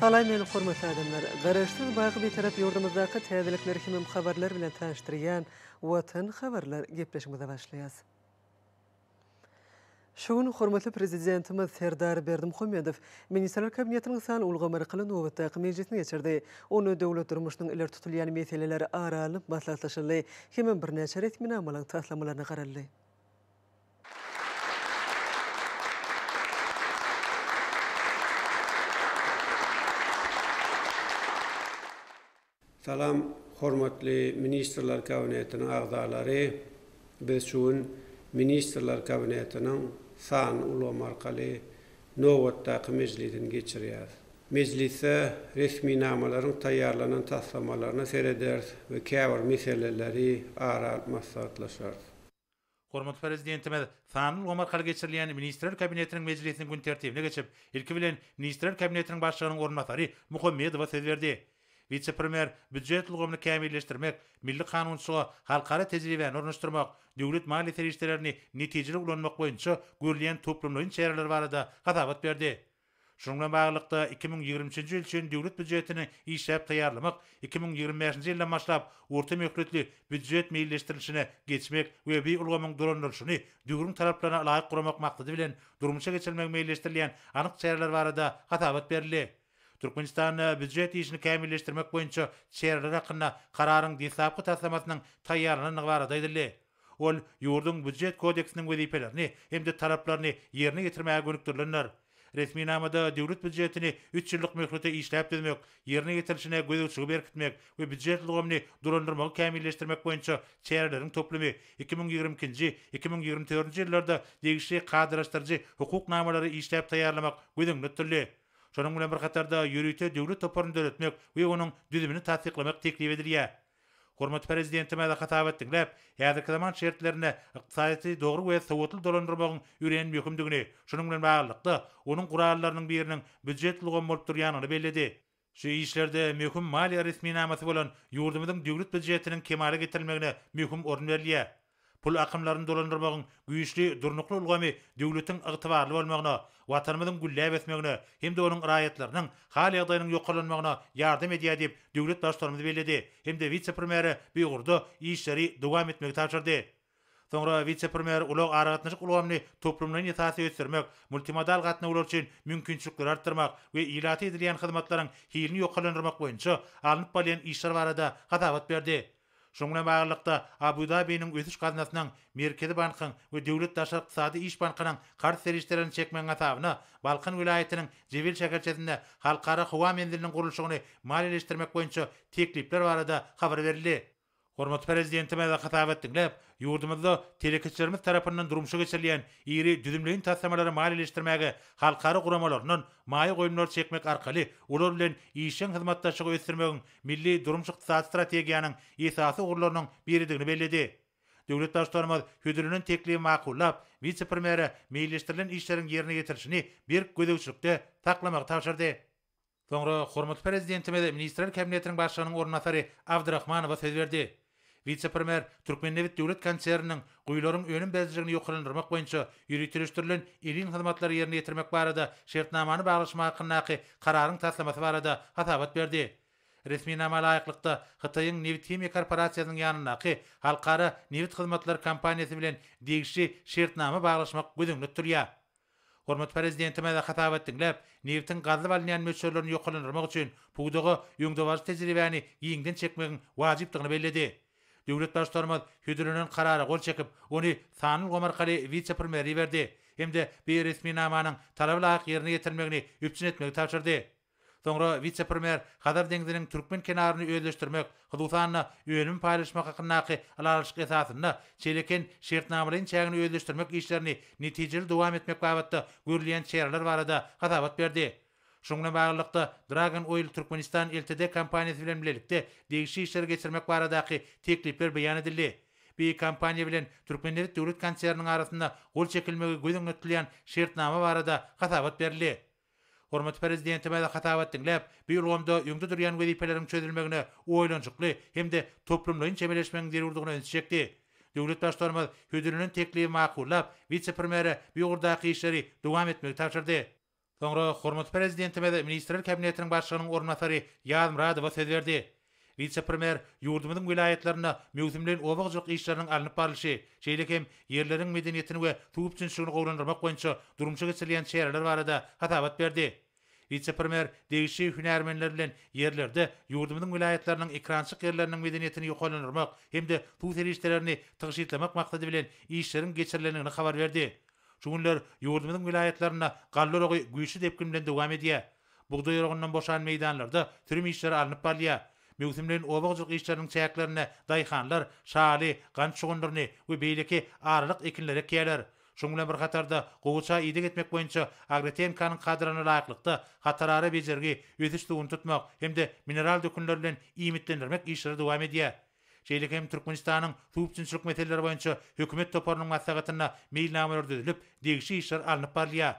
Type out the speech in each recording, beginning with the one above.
Salam meni hormatly adamlar! Garaşsyz baky Bitarap ýurdumyzdaky täzelikler hemem habarlar bilen tanyşdyrýan Watan habarlar gepleşigimize başlaýas. Şu gün hormatly Prezidentimiz Serdar Berdimuhamedow Ministrler Kabinetiniň san ulgamy arkaly nobatdaky mejlisini geçirdi. Onda döwlet durmuşynyň ileri tutulýan meseleleri ara alnyp maslahatlaşyldy hemem birnäçe resminamalaryň taslamalaryna garaldy. Salam, hormatly Ministrler Kabinetiniň agzalary! Biz şu gün Ministrler Kabinetiniň sanly ulgam arkaly nobatdaky mejlisini geçirýäris. Mejlisde resminamalaryň taýýarlanan taslamalaryna serederis we käbir meseleleri ara alyp maslahatlaşarys. Hormatly Prezidentimiz sanly ulgam arkaly geçirilýän Ministrler Kabinetiniň mejlisiniň gün tertibine geçip, ilki bilen, Ministrler Kabinetiniň Başlygynyň orunbasary Muhammedowa söz berdi. Wise-premýer býujet ulgamyny kämilleşdirmek, milli kanunçylyga halkara tejribäni ornaşdyrmak, döwlet maliýe serişdelerini netijeli ulanmak boýunça görülýän toplumlaýyn çäreler barada hasabat berdi. Şunuň bilen baglylykda, iki müň ýigrimi üçünji ýyl üçin Döwlet býujetini işläp taýýarlamak, iki müň ýigrimi bäşinji ýyldan başlap orta möhletli býujet meýilleşdirilişine geçmek we bi ulgamyň dolandyrylyşyny döwrüň talaplaryna laýyk guramak maksady bilen durmuşa geçirilmegi meýilleşdirilýän anyk çäreler barada hasabat berildi. Türkmenistanda býujet işini kämilleşdirmek boýunça çäreler hakynda Kararyň deslapky taslamasynyň taýýarlanandygy barada aýdyldy. Ol ýurduň Býujet kodeksiniň wezipelerini hem-de talaplaryny ýerine ýetirmäge gönükdirilendir. Resminamada Döwlet býujetini üç ýyllyk möhlete işläp düzmek, ýerine ýetirilişine gözegçiligi berkitmek we býujet ulgamyny dolandyrmagy kämilleşdirmek boýunça çäreleriň toplumy iki müň ýigrimi ikinji, iki müň ýigrimi dördünji ýyllarda degişli kadalaşdyryjy hukuk namalary işläp taýýarlamak göz öňünde tutuldy. Şonuň bilen bir hatarda ýörite döwlet toparyny döretmek we onuň düzümini tassyklamak teklip edilýär. Hormatly Prezidentimize hasabat diňläp, häzirki zaman şertlerinde ykdysadyýeti dogry we sowatly dolandyrmagyň örän möhümdigini, şunuň bilen baglylykda, onuň gurallarynyň biriniň býujet ulgamy bolup durýanyny belledi. Şu işlerde möhüm maliýe resminamasy bolan ýurdumyzyň Döwlet býujetiniň kemala getirilmegine möhüm orun berilýär. Pul akymlaryny dolandyrmagyň güýçli, durnukly ulgamy döwletiň ygtybarly bolmagyna, Watanymyzyň gülläp ösmegine hem-de onuň raýatlarynyň hal-ýagdaýynyň ýokarlanmagyna ýardam edýär diýip, döwlet Baştutanymyz belledi hem-de wise-premýere bu ugurda işleri dowam etmegi tabşyrdy. Soňra wise-premýer ulag-aragatnaşyk ulgamyny toplumlaýyn esasda ösdürmek, multimodal gatnawlar üçin mümkinçilikleri artdyrmak we ilata edilýän hyzmatlaryň hilini ýokarlandyrmak boýunça alnyp barylýan işler barada hasabat berdi. Şunuň bilen baglylykda, Abu-Dabiniň Ösüş gaznasynyň, Merkezi bankyň we Döwlet daşary ykdysady iş bankynyň karz serişdelerini çekmegiň hasabyna Balkan welaýatynyň Jebel şäherçesinde Halkara howa menziliniň gurluşygyny maliýeleşdirmek boýunça teklipler barada habar berildi. Hormatly Prezidentimiz hasabat diňläp, ýurdumyzda telekeçilerimiz tarapyndan durmuşa geçirilýän iri düzümleýin taslamalary maliýeleşdirmäge halkara guramalaryndan maýa goýumlary çekmek arkaly olar bilen işjeň hyzmatdaşlygy ösdürmegiň milli durmuş-ykdysady strategiýanyň esasy ugurlarynyň biridigini belledi. Döwlet Baştutanymyz hödürlenen teklibi makullap, wise-premýere meýilleşdirilen işleriň ýerine ýetirilişini berk gözegçilikde saklamagy tabşyrdy. Soňra hormatly Prezidentimiz Ministrler Kabinetiniň Başlygynyň orunbasary Abdrahmanowa söz berdi. Wise-premýer Türkmennebit döwlet konserniniň guýularyň önüm berijiligini ýokarlandyrmak boýunça ýöriteleşdirilen edil hyzmatlary ýerine ýetirmek barada şertnamany baglaşmak hakyndaky kararyň taslamasy barada hasabat berdi. Resminama laýyklykda, Hytaýyň Nebithimiýa korporasiýasynyň ýanyndaky Halkara nebit hyzmatlary kompaniýasy bilen degişli şertnama baglaşmak göz öňünde tutulýar. Hormatly Prezidentimize hasabat diňläp, nebtiň gazylyp alynýan möçberlerini ýokarlandyrmak üçin pudaga öňdebaryjy tejribäni giňden çekmegiň wajypdygyny belledi. Döwlet Baştutanymyz hödürlenen Karara gol çekip, ony sanly ulgam arkaly wise-premýere iberdi hem-de beýeresminamanyň talaba laýyk ýerine ýetirilmegini üpjün etmegi tabşyrdy. Soňra wise-premýer Hazar deňziniň türkmen kenaryny özleşdirmek, hususan-da, önümi paýlaşmak hakyndaky ylalaşyk esasynda Çeleken şertnamalaýyn çägini özleşdirmek işlerini netijeli dowam etmek babatda görülýän çäreler barada hasabat berdi. Şunuň bilen baglylykda, Dragon Oil Turkmenistan Ltd kompaniýasy bilen bilelikde degişli işleri geçirmek baradaky teklipler beýan edildi. Bi kompaniýa bilen Türkmennebit döwlet konserniniň arasynda gol çekilmegi göz öňünde tutulýan şertnama barada hasabat berildi. Hormatly Prezidentimiz hasabat diňläp, bu ulgamda öňde durýan wezipeleriň çözülmegine oýlanyşykly hem-de toplumlaýyn çemeleşmegiň zerurdygyna ünsi çekdi. Döwlet Baştutanymyz hödürlenen teklibi makullap, wise-premýere bu ugurdaky işleri dowam etmegi tabşyrdy. Soňra hormatly Prezidentimiz Ministrler Kabinetiniň Başlygynyň orunbasary Ýazmyradowa söz berdi. Wise-premýer ýurdumyzyň welaýatlarynda möwsümleýin oba hojalyk işleriniň alnyp barlyşy, şeýle hem ýerleriň medeniýetini we suw üpjünçiligini gowulandyrmak boýunça durmuşa geçirilýän çäreler barada hasabat berdi. Wise-premýer degişli hünärmenler bilen ýerlerde ýurdumyzyň welaýatlarynyň ekrançyk ýerleriniň medeniýetini ýokarlandyrmak hem-de suw serişdelerini tygşytlamak maksady bilen işleriň geçirilendigini habar berdi. Şu günler ýurdumyzyň welaýatlarynda galla uragy güýçli depgin bilen dowam edýär. Bugdaý oragyndan boşan meýdanlarda sürüm işleri alnyp barylýar. Möwsümleýin oba hojalyk işleriniň çäklerinde daýhanlar şaly, gant şugundyryny we beýleki aralyk ekinleri ekýärler. Şunuň bilen bir hatarda, gowaça ideg etmek boýunça Agrotehnikanyň kadryna laýyklykda hatarara bejergi, ösüş suwuny tutmak hem-de mineral dökünler bilen iýmitlendirmek işleri dowam edýär. Şeýle hem Türkmenistanyň Suwüpjünçilik meseleleri boýunça hökümet toparynyň maslahatynda meýilnamalar düzülip, degişli işler alnyp barylýar.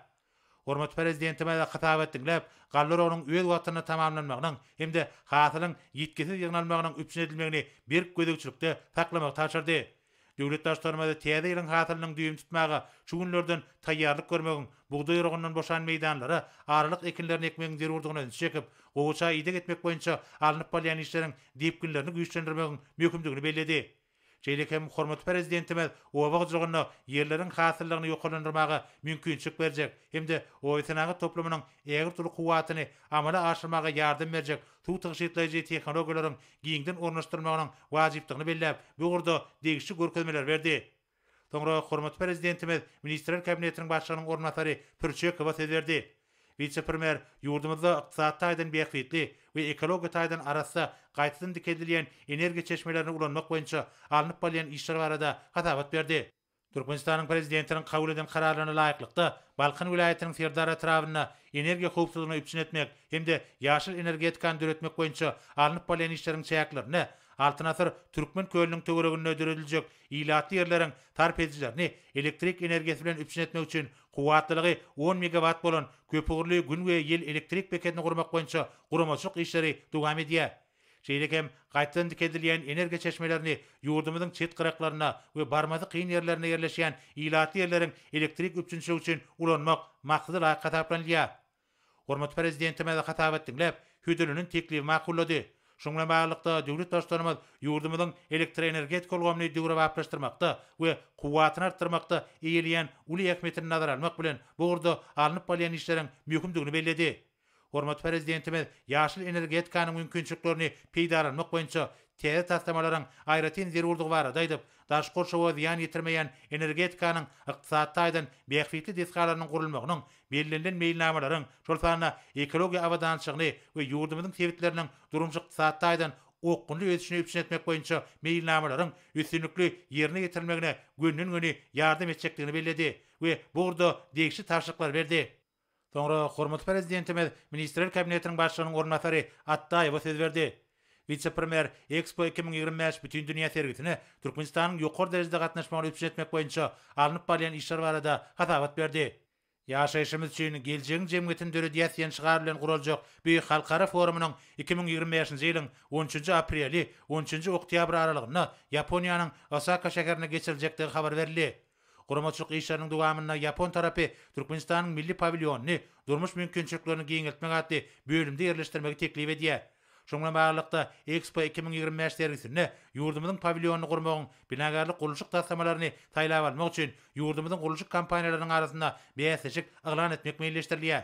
Hormatly Prezidentimize hytaby etdiňläp, galla oragynyň öz wagtynda tamamlanmagynyň hem-de hasylyň ýitgisiz ýygnalmagynyň üpjün edilmegini berk gözegçilikde saklamagy tabşyrdy. Döwlet Baştutanymyz täze ýylyň hasylynyň düýbüni tutmaga şu günlerden taýýarlyk görmegiň, bugdaý oragyndan boşan meýdanlara aralyk ekinlerini ekmegiň zerurdygyna ünsi çekip, gowaça ideg etmek boýunça alnyp barylýan işleriň depginlerini güýçlendirmegiň möhümdigini belledi. Şeýle hem hormatly Prezidentimiz oba hojalygynda ýerleriň hasyllygyny ýokarlandyrmaga mümkinçilik berjek hem-de obasenagat toplumynyň ägirt uly kuwwatyny amala aşyrmaga ýardam berjek suw tygşytlaýjy tehnologiýalaryň giňden ornaşdyrylmagynyň wajypdygyny belläp, bu ugurda degişli görkezmeleri berdi. Soňra hormatly Prezidentimiz Ministrler Kabinetiniň Başlygynyň orunbasary Pürçekowa söz berdi. Wise-premýer ýurdumyzda ykdysady taýdan bähbitli we ekologiýa taýdan arassa gaýtadan dikeldilýän energiýa çeşmelerini ulanmak boýunça alnyp barylýan işler barada hasabat berdi. Türkmenistanyň Prezidentiniň kabul eden Kararlaryna laýyklykda, Balkan welaýatynyň Serdar etrabynda energiýa howpsuzlygyny üpjün etmek hem-de ýaşyl energetikany döretmek boýunça alnyp barylýan işleriň çäklerinde Altyn asyr Türkmen kölüniň töwereginde dörediljek ilatly ýerleriň sarp edijilerini elektrik energiýasy bilen üpjün etmek üçin Kuwwatlylygy on megawat bolan köpugurly gün we ýel elektrik bekedini gurmak boýunça guramaçylyk işleri dowam edýär. Şeýle hem gaýtadan dikeldilýän energiýa çeşmelerini ýurdumyzyň çet gyraklarynda we barmasy kyn ýerlerinde ýerleşýän ilatly ýerleriň elektrik üpjünçiligi üçin ulanmak maksadalaýyk hasaplanylýar. Hormatly Prezidentimiz hasabat diňläp, hödürlenen teklibi makullady. Şunuň bilen baglylykda, döwlet Baştutanymyz ýurdumyzyň elektroenergetika ulgamyny döwrebaplaşdyrmakda we kuwwatyny artdyrmakda eýeleýän uly ähmiýetini nazara almak bilen, bu ugurda alnyp barylýan işleriň möhümdigini belledi. Hormatly Prezidentimiz ýaşyl energetikanyň mümkinçiliklerini peýdalanmak boýunça täze taslamalaryň aýratyn zerurdygy barada aýdyp, daşky gurşawa zyýan ýetirmeýän energetikanyň ykdysady taýdan bähbitli desgalarynyň gurulmagynyň Bellenilen meýilnamalaryň, şol sanda ekologiýa abadançylygyny we ýurdumyzyň sebitleriniň durmuş-ykdysady taýdan okgunly ösüşini üpjün etmek boýunça meýilnamalaryň üstünlikli ýerine ýetirilmegine gönden-göni ýardam etjekdigini belledi we bu ugurda degişli tabşyryklary berdi. Soňra hormatly Prezidentimiz Ministrler Kabinetiniň Başlygynyň orunbasary Atdaýewa söz berdi. Wise-premýer Expo iki müň ýigrimi bäş bütindünýä sergisine Türkmenistanyň ýokary derejede gatnaşmagyny üpjün etmek boýunça alnyp barylýan işler barada hasabat berdi. Ýaşaýşymyz üçin, geljegiň jemgyýetini döredýäs diýen şygar bilen guraljak bu halkara forumynyň iki müň ýigrimi bäşinji ýylyň on üçünji apreli, on üçünji oktýabry aralygynda Ýaponiýanyň Osaka şäherinde geçiriljekdigi habar berildi. Guramaçylyk işleriniň dowamynda ýapon tarapy Türkmenistanyň milli pawilýonyny Durmuş mümkinçiliklerini giňeltmek atly bölümde ýerleşdirmegi teklip edýär. Şunuň bilen baglylykda, Expo iki müň ýigrimi bäş sergisinde ýurdumyzyň pawilýonyny gurmagyň binagärlik-gurluşyk taslamalaryny saýlap almak üçin ýurdumyzyň gurluşyk kompaniýalarynyň arasynda bäsleşik yglan etmek meýilleşdirilýär.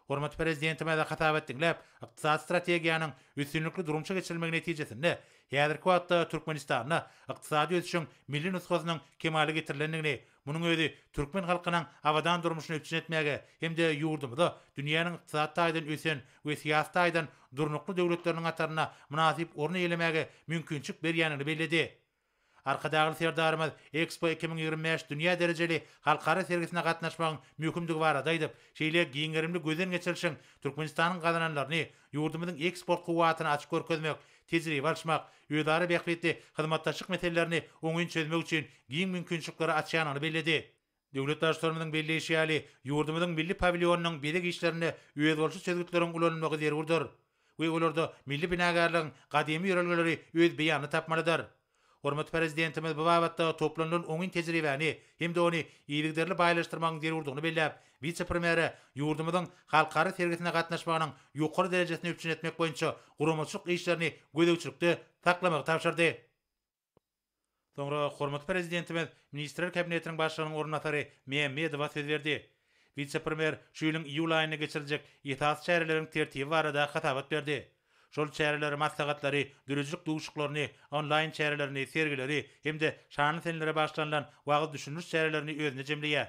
Hormatly Prezidentimize hasabat diňläp, ykdysady strategiýanyň üstünlikli durmuşa geçirilmegi netijesinde, häzirki wagtda Türkmenistanda ykdysady ösüşiň milli nusgasynyň kemala getirilendigini, munuň özi türkmen halkynyň abadan durmuşyny üpjün etmäge hem-de ýurdumyzy dünýäniň ykdysady taýdan ösen we syýasy taýdan durnukly döwletleriniň hatarynda mynasyp orun eýelemäge mümkinçilik berýändigini belledi. Arkadagly Serdarymyz Expo iki müň ýigrimi bäş dünýä derejeli halkara sergisine gatnaşmagyň möhümdigi barada aýdyp, şeýle giň gerimli gözden geçirişiň Türkmenistanyň gazananlaryny, ýurdumyzyň eksport kuwwatyny açyp görkezmek, tejribe alyşmak, özara bähbitli hyzmatdaşlyk meselelerini oňyn çözmek üçin giň mümkinçilikleri açýandygyny belledi. Döwlet Baştutanymyzyň belleýşi ýaly, ýurdumyzyň milli pawilýonynyň bezeg işlerinde özboluşly çözgütleriň ulanylmagy zerurdyr we olarda milli binagärligiň gadymy ýörelgeleri öz beýanyny tapmalydyr. Hormatly Prezidentimiz bu babatda toplanylan oňyn tejribäni hem-de ony yzygiderli baýlaşdyrmagyň zerurdygyny belläp, wise-premýere ýurdumyzyň halkara sergisine gatnaşmagynyň ýokary derejesini üpjün etmek boýunça guramaçylyk işlerini gözegçilikde saklamagy tabşyrdy. Soňra hormatly Prezidentimiz Ministrler Kabinetiniň Başlygynyň orunbasary Mämmedowa söz berdi. Wise-premýer şu ýylyň iýul aýynda geçiriljek esasy çäreleriň tertibi barada hasabat berdi. Şol çäreleri, maslahatlary, döredijilik duşuklaryny, onlaýn çärelerini, sergileri hem-de şanly senelere bagyşlanylan wagyz-düşündiriş çärelerini özünde jemleýär.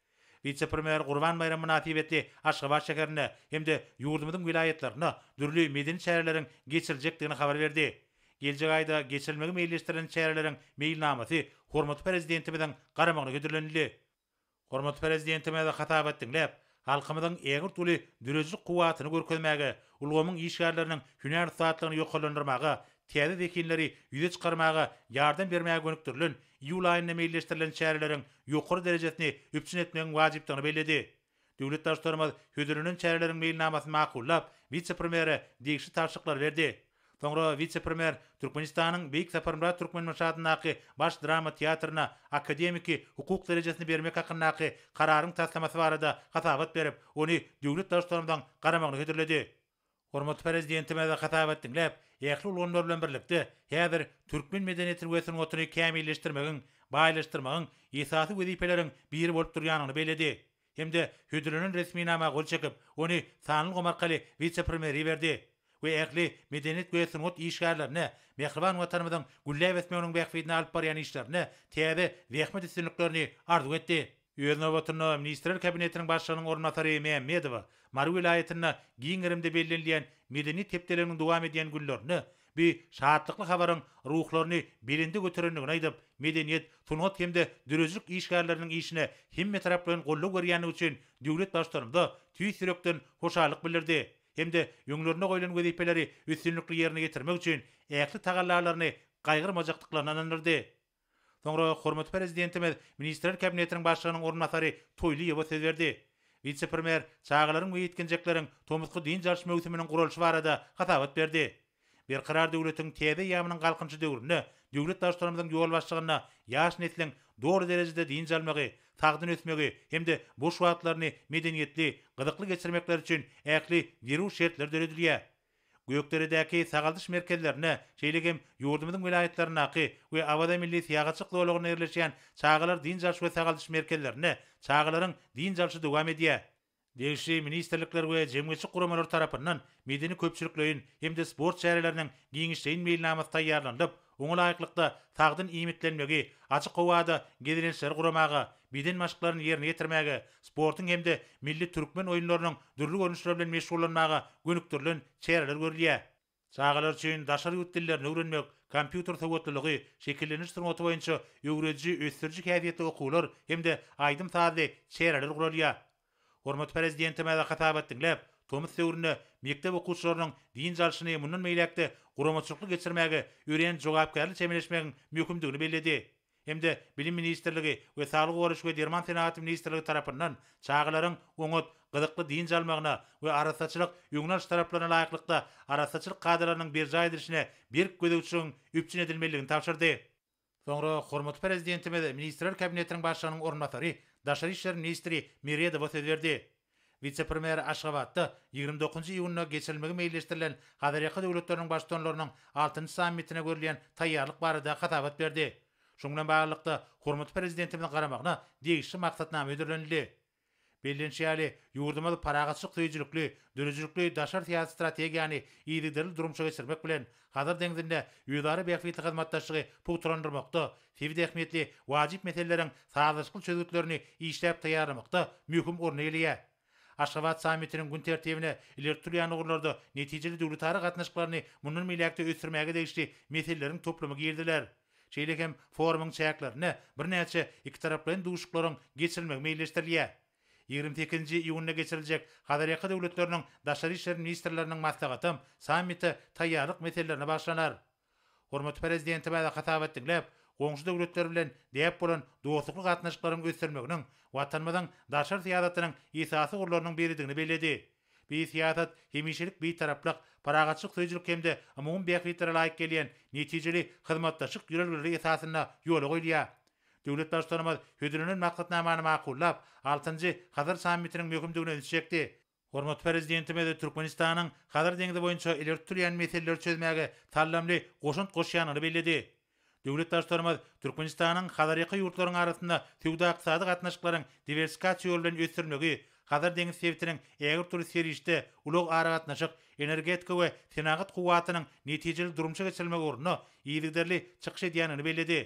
Wise-premýer Gurban baýramy mynasybetli Aşgabat şäherinde hem-de ýurdumyzyň welaýatlarynda dürli medeni çäreleriň geçiriljekdigini habar berdi. Geljek aýda geçirilmegi meýilleşdirilen çäreleriň meýilnamasy hormatly Prezidentimiziň garamagyna hödürlenildi. Hormatly Prezidentimiz hasabat diňläp, halkymyzyň ägirt uly döredijilik kuwwatyny görkezmäge, ulgamyň işgärleriniň hünär ussatlygyny ýokarlandyrmaga täze zehinleri ýüze çykarmaga ýardam bermäge gönükdirilen iýul aýynda meýilleşdirilen çäreleriň ýokary derejesini üpjün etmegiň wajypdygyny belledi. Döwlet Baştutanymyz hödürlenen çäreleriň meýilnamasyny makullap, wise-premýere degişli tabşyryklary berdi. Soňra wise-premýer Türkmenistanyň Beýik Saparmyrat Türkmenbaşy adyndaky Baş drama teatryna akademiki hukuk derejesini bermek hakyndaky Kararyň taslamasy barada hasabat berip, ony döwlet Baştutanymyzyň garamagyna hödürledi. Hormatly Prezidentimize hasap et diňläp, ähli ulgamlar bilen birlikde, häzir türkmen medeniýetini we sungatyny kämilleşdirmegiň, baýlaşdyrmagyň esasy wezipeleriň biri bolup durýanyny belledi hem-de hödürlenen resminama gol çekip, ony sanly ulgam arkaly wise-premýere iberdi we ähli medeniýet we sungat işgärlerine mähriban Watanymyzyň gülläp ösmeginiň bähbidine alyp barýan işlerinde täze zähmet üstünliklerini arzuw etdi. Öz nobatynda, Ministrler Kabinetiniň Başlygynyň orunbasary Mämmedowa Mary welaýatynda giň gerimde bellenilýän Medeniýet hepdeliginiň dowam edýän günlerinde bu şatlykly habaryň ruhlaryny belende göterendigini aýdyp, medeniýet, sungat hem-de döredijilik işgärleriniň işine hemmetaraplaýyn goldaw berýändigi üçin döwlet Baştutanymyza tüýs ýürekden hoşallyk bildirdi hem-de öňlerinde goýlan wezipeleri üstünlikli ýerine ýetirmek üçin ähli tagallalaryny gaýgyrmajakdyklaryny ynandyrdy. Soňra hormatly Prezidentimiz Ministrler Kabinetiniň Başlygynyň orunbasary Toýlyýewa söz berdi. Wise-premýer çagalaryň we ýetginjekleriň tomusky dynç alyş möwsüminiň guralyşy barada hasabat berdi. Berkarar döwletiň täze eýýamynyň Galkynyşy döwründe döwlet Baştutanymyzyň ýolbaşçylygynda ýaş nesliň doly derejede dynç almagy, sagdyn ösmegi hem-de boş wagtlaryny medeniýetli, gyzykly geçirmekleri üçin ähli zerur şertler döredilýär. Gökderedäki sagaldyş merkezlerine, şeýle hem ýurdumyzyň welaýatlaryndaky we Awaza milli syýahatçylyk zolagynda ýerleşýän çagalar dynç alyş we sagaldyş merkezlerinde çagalaryň dynç alşy dowam edýär. Degişli ministrlikler we jemgyýetçilik guramalary tarapyndan medeni-köpçülikleýin hem-de sport çäreleriniň giňişleýin meýilnamasy taýýarlanylyp, Oňa laýyklykda, sagdyn iýmitlenmegi, açyk howada gezelençleri guramaga, beden maşklaryny ýerine ýetirmäge, sportuň hem-de milli türkmen oýunlarynyň dürli görnüşleri bilen meşgullanmaga gönükdirilen çäreler görülýär. Çagalar üçin daşary ýurt dillerini öwrenmek, kompýuter sowatlylygy, şekillendiriş sungaty boýunça öwrediji, ösdüriji häsiýetli okuwlar hem-de aýdym-sazly çäreler guralýar. Hormatly Prezidentimize hasabat diňläp, tomus döwründe mekdep okuwçylarynyň dynç alşyny mundan beýläk-de guramaçylykly geçirmäge örän jogapkärli çemeleşmegiň möhümdigini belledi hem-de Bilim ministrligi we Saglygy goraýyş we derman senagaty ministrligi tarapyndan çagalaryň oňat, gyzykly dynç almagyna we arassaçylyk öňüni alyş talaplaryna laýyklykda arassaçylyk kadalarynyň berjaý edilişine berk gözegçiligiň üpjün edilmelidigini tabşyrdy. Soňra hormatly Prezidentimiz Ministrler Kabinetiniň Başlygynyň orunbasary, daşary işler ministri Meredowa söz berdi. Wise-premýer Aşgabatda ýigrimi dokuzynjy iýunda geçirilmegi meýilleşdirilen Hazarýaka döwletleriniň Baştutanlarynyň altynjy sammitine görülýän taýýarlyk barada hasabat berdi. Şunuň bilen baglylykda, hormatly Prezidentimiziň garamagyna degişli maksatnama hödürlenildi. Bellenişi ýaly, ýurdumyz parahatçylyk söýüjilikli, döredijilikli daşary syýasy strategiýany yzygiderli durmuşa geçirmek bilen, Hazar deňzinde özara bähbitli hyzmatdaşlygy pugtalandyrmakda, sebit ähmiýetli wajyp meseleleriň sazlaşykly çözgütlerini işläp taýýarlamakda möhüm orny eýeleýär. Aşgabat sammitiniň gün tertibine ileri tutulýan ugurlarda netijeli döwletara gatnaşyklaryny mundan beýläk-de ösdürmäge degişli meseleleriň toplumy giriziler. Şeýle hem forumyň çäklerinde birnäçe ikitaraplaýyn duşuşyklaryň geçirilmegi meýilleşdirilýär. Ýigrimi sekizinji iýunda geçiriljek Hazarýaka döwletleriniň daşary işler ministrleriniň maslahatam sammite taýýarlyk meselelerine bagyşlanar. Hormatly Prezidentimize hasabat diňläp, goňşy döwletler bilen däp bolan dostlukly gatnaşyklaryň ösdürilmeginiň Watanymyzyň daşary syýasatynyň esasy ugurlarynyň biridigini belledi. Beýik syýasat, hemişelik Bitaraplyk, parahatçylyk söýüjilik hem-de umumy bähbitlere laýyk gelýän, netijeli hyzmatdaşlyk ýörelgeleri esasynda ýola goýulýar. Döwlet Baştutanymyz hödürlenen maksatnamany makullap, altynjy Hazar sammitiniň möhümdigine ünsi çekdi. Hormatly Prezidentimiz Türkmenistanyň Hazar deňzi boýunça ileri tutulýan meseleleri çözmäge saldamly goşant goşýandygyny belledi. Döwlet Baştutanymyz Türkmenistanyň Hazarýaka ýurtlaryň arasynda söwda-ykdysady gatnaşyklaryň diwersifikasiýa ýoly bilen ösdürilmegi, Hazar deňiz sebitiniň ägirt dürli serişde, ulag-aragatnaşyk, energetika we senagat kuwwatynyň netijeli durmuşa geçirilmegi ugrunda yzygiderli çykyş edýändigini belledi.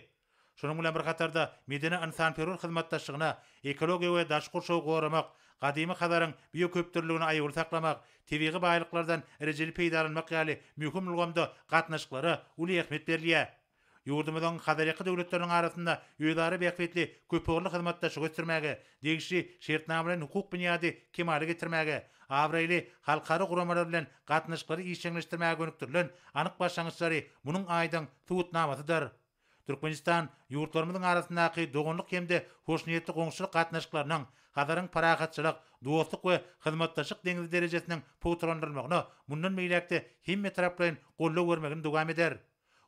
Şunuň bilen bir hatarda, medeni-ynsanperwer hyzmatdaşlygyna, ekologiýa we daşky gurşawy goramak, gadymy Hazaryň bioköpdürlüligini aýawly saklamak, Tebigy baýlyklardan rejeli peýdalanmak ýaly möhüm ulgamda gatnaşyklara uly ähmiýet berilýär. Ýurdumyzyň Hazarýaka döwletleriniň arasynda özara bähbitli köpugurly hyzmatdaşlygy ösdürmäge, degişli şertnamalaýyn hukuk binýady kemala getirmäge, abraýly halkara guramalar bilen gatnaşyklary işjeňleşdirmäge gönükdirilen anyk başlangyçlary munuň aýdyň subutnamasydyr. Türkmenistan ýurtlarymyzyň arasyndaky doganlyk hem-de hoşniýetli goňşuçylyk gatnaşyklarynyň Hazaryň parahatçylyk, dostluk we hyzmatdaşlyk deňzi derejesiniň pugtalandyrylmagyna mundan beýläk-de hemmetaraplaýyn goldaw bermegini dowam eder.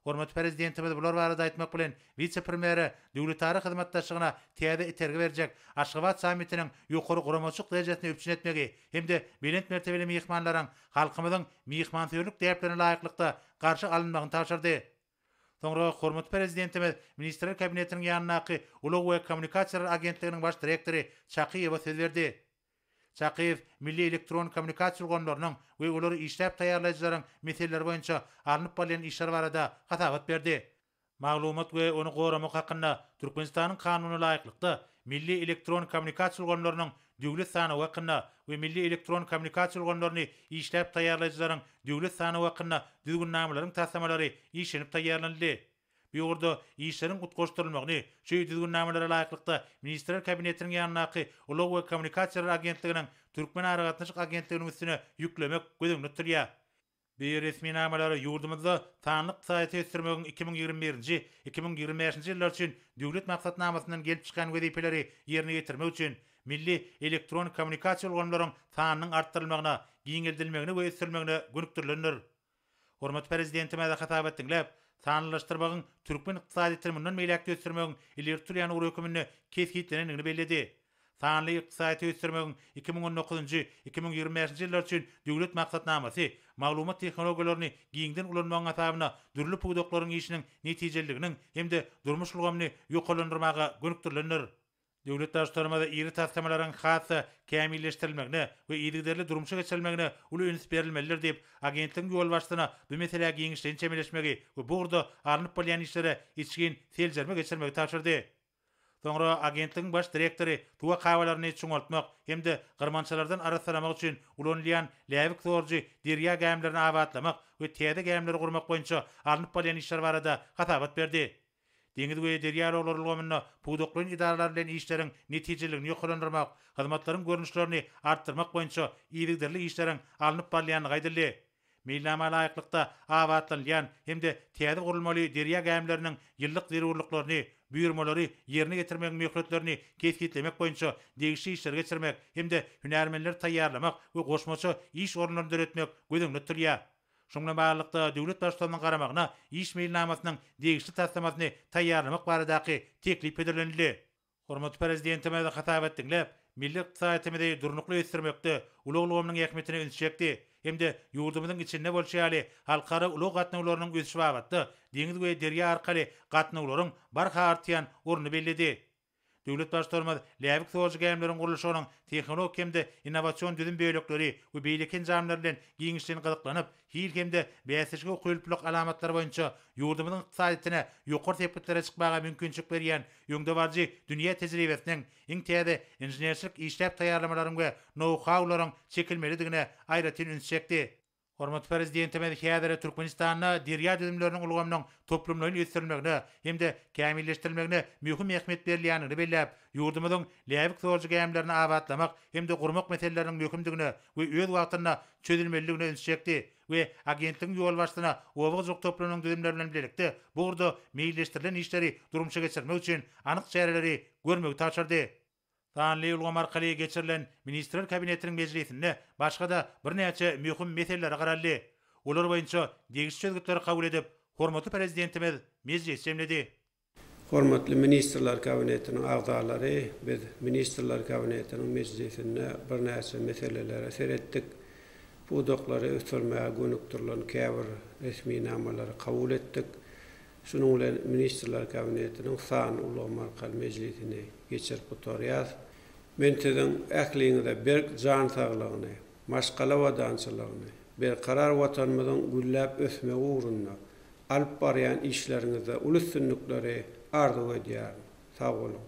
Hormatly Prezidentimiz bular barada aýtmak bilen, wise-premýere döwletara hyzmatdaşlygyna täze itergi berjek Aşgabat sammitiniň ýokary guramaçylyk derejesini üpjün etmegi hem-de belent mertebeli myhmanlaryň halkymyzyň myhmansöýerlik däplerine laýyklykda garşy alynmagyny tabşyrdy. Soňra hormatly Prezidentimiz Ministrler Kabinetiniň ýanyndaky Ulag we kommunikasiýalar agentliginiň baş direktory Çakyýewa söz berdi. Çakyýew milli elektron kommunikasiýa ulgamlarynyň we olary işläp taýýarlaýjylaryň meseleleri boýunça alnyp barylýan işler barada hasabat berdi. Maglumat we ony goramak hakynda Türkmenistanyň Kanunyna laýyklykda, milli elektron kommunikasiýa ulgamlarynyň Döwlet sanawy hakynda we milli elektron kommunikasiýa ulgamlaryny işläp taýýarlaýjylaryň Döwlet sanawy hakynda düzgünnamalaryň taslamalary işlenip taýýarlanyldy. Bu ugurda işleriň utgaşdyrylmagyny şu Düzgünnamalara laýyklykda Ministrler Kabinetiniň ýanyndaky Ulag we kommunikasiýalar agentliginiň Türkmen aragatnaşyk agentliginiň üstüne ýüklemek göz öňünde tutulýar. Bu resminamalara ýurdumyzda sanly ykdysadyýeti ösdürmegiň iki müň ýigrimi birinji, iki müň ýigrimi bäşinji ýyllar üçin Döwlet maksatnamasyndan gelip çykýan wezipeleri ýerine ýetirmek üçin milli elektron kommunikasiýa ulgamlaryň sanynyň artdyrylmagyna, giňeldilmegine we ösdürilmegine gönükdirilendir. Hormatly Prezidentimize hasabat diňläp, sanlylaşdyrmagyň türkmen ykdysadyýetini mundan beýläk-de ösdürmegiň ileri tutulýan ugur höküminde kesgitlenendigini belledi. Sanly ykdysadyýeti ösdürmegiň iki müň on dokuzynjy, iki müň ýigrimi bäşinji ýyllar üçin Döwlet maksatnamasy maglumat tehnologiýalaryny giňden ulanmagyň hasabyna dürli pudaklaryň işiniň netijeliliginiň hem-de durmuş ulgamyny ýokarlandyrmaga gönükdirilendir. Döwlet Baştutanymyz iri taslamalaryň has-da kämilleşdirilmegine we yzygiderli durmuşa geçirilmegine uly üns berilmelidir diýip, agentligiň ýolbaşçysyna bu meselä giňişleýin çemeleşmegi we bu ugurda alnyp barylýan işlere içgin seljerme geçirmegi tabşyrdy. Soňra agentligiň baş direktory suw akabalaryny çuňaltmak hem-de gyrmançalardan arassalamak üçin ulanylýan läbik sorujy derýa gämilerini abatlamak we täze gämileri gurmak boýunça alnyp barylýan işler barada hasabat berdi. Deňiz we derýa ulaglar ulgamynda pudaklaýyn edaralar bilen işleriň netijeliligini ýokarlandyrmak, hyzmatlaryň görnüşlerini artdyrmak boýunça yzygiderli işleriň alnyp barylýandygy aýdyldy. Meýilnama laýyklykda, abatlanylýan hem-de täze gurulmaly derýa gämileriniň ýyllyk zerurlyklaryny, buýurmalary ýerine ýetirmegiň möhletlerini kesgitlemek boýunça degişli işleri geçirmek hem-de hünärmenleri taýýarlamak we goşmaça iş orunlaryny döretmek göz öňünde tutulýar. Şunuň bilen baglylykda, döwlet Baştutanymyzyň garamagyna iş meýilnamasynyň degişli taslamasyny taýýarlamak baradaky teklip hödürlenildi. Hormatly Prezidentimiz hasap et diňläp, milli ykdysadyýetimizi durnukly ösdürmekde ulag ulgamynyň ähmiýetine üns çekdi hem-de ýurdumyzyň içinde bolşy ýaly halkara ulag gatnawlarynyň ösüşi babatda deňiz we derýa arkaly gatnawlaryň barha artýan ornuny belledi. Döwlet Baştutanymyz läbik sorujy gämileriň gurluşygynyň tehnologik hem-de innowasion düzüm bölekleri we beýleki enjamlar bilen giňişleýin gyzyklanyp, hil hem-de bäsleşige ukyplylyk alamatlary boýunça ýurdumyzyň ykdysadyýetine ýokary sepgitlere çykmaga mümkinçilik berýän öňdebaryjy dünýä tejribesiniň, iň täze inženerçilik işläp taýýarlamalaryň we nou-haularyň çekilmelidigine aýratyn üns çekdi. Hormatly Prezidentimiz häzir Türkmenistanda derýa düzümleriniň ulgamynyň toplumlaýyn ösdürilmegine hem-de kämilleşdirilmegine möhüm ähmiýet berilýändigini belläp, ýurdumyzyň läbik zorjy gämilerini abatlamak hem-de gurmak meseleleriniň möhümdigine we öz wagtynda çözülmelidigine üns çekdi we agentligiň ýolbaşçysyna oba hojalyk toplumynyň düzümleri bilen birlikde bu ugurda meýilleşdirilen işleri durmuşa geçirmek üçin anyk çäreleri görmegi tabşyrdy. Sanly ulgam arkaly geçirilen Ministrler Kabinetiniň mejlisinde başga-da birnäçe möhüm meselelere garaldy. Olar boýunça degişli çözgütleri kabul edip, hormatly Prezidentimiz mejlis jemledi. Hormatly Ministrler Kabinetiniň agzalary, biz Ministrler Kabinetiniň mejlisinde birnäçe meselelere seretdik. Pudaklary ösdürmäge gönükdirilen käbir resminamalary kabul etdik. Şunuň bilen Ministrler Kabinetiniň sanly ulgam arkaly mejlisini geçirip gutarýarys. Men siziň ähliňize berk jan saglygyny, maşgala abadançylygyny, berkarar Watanymyzyň gülläp ösmegi ugrunda alyp barýan işleriňizde uly üstünlikleri arzuw edýärin. Sag boluň!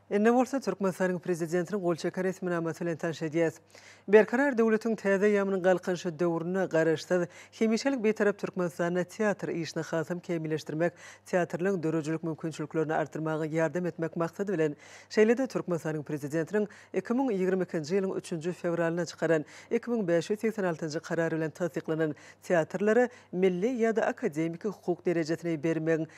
Indi bolsa Türkmenistanyň prezidentiniň gol çeken resminamasy bilen tanyş edýäs. Berkarar döwletiň täze ýamynyň galkynyşy döwründe Garaşsyz, hemişelik Bitarap Türkmenistanda teatr işini hasam kämilleşdirmek, teatrlaryň döredijilik mümkinçiliklerini artdyrmaga ýardam etmek maksady bilen, şeýle-de Türkmenistanyň prezidentiniň iki müň ýigrimi ikinji ýylyň üçünji fewralynda çykaran iki müň bäş ýüz segsen altynjy Karary bilen tassyklanan teatrlara milli ýa-da akademiki hukuk derejesini bermegiň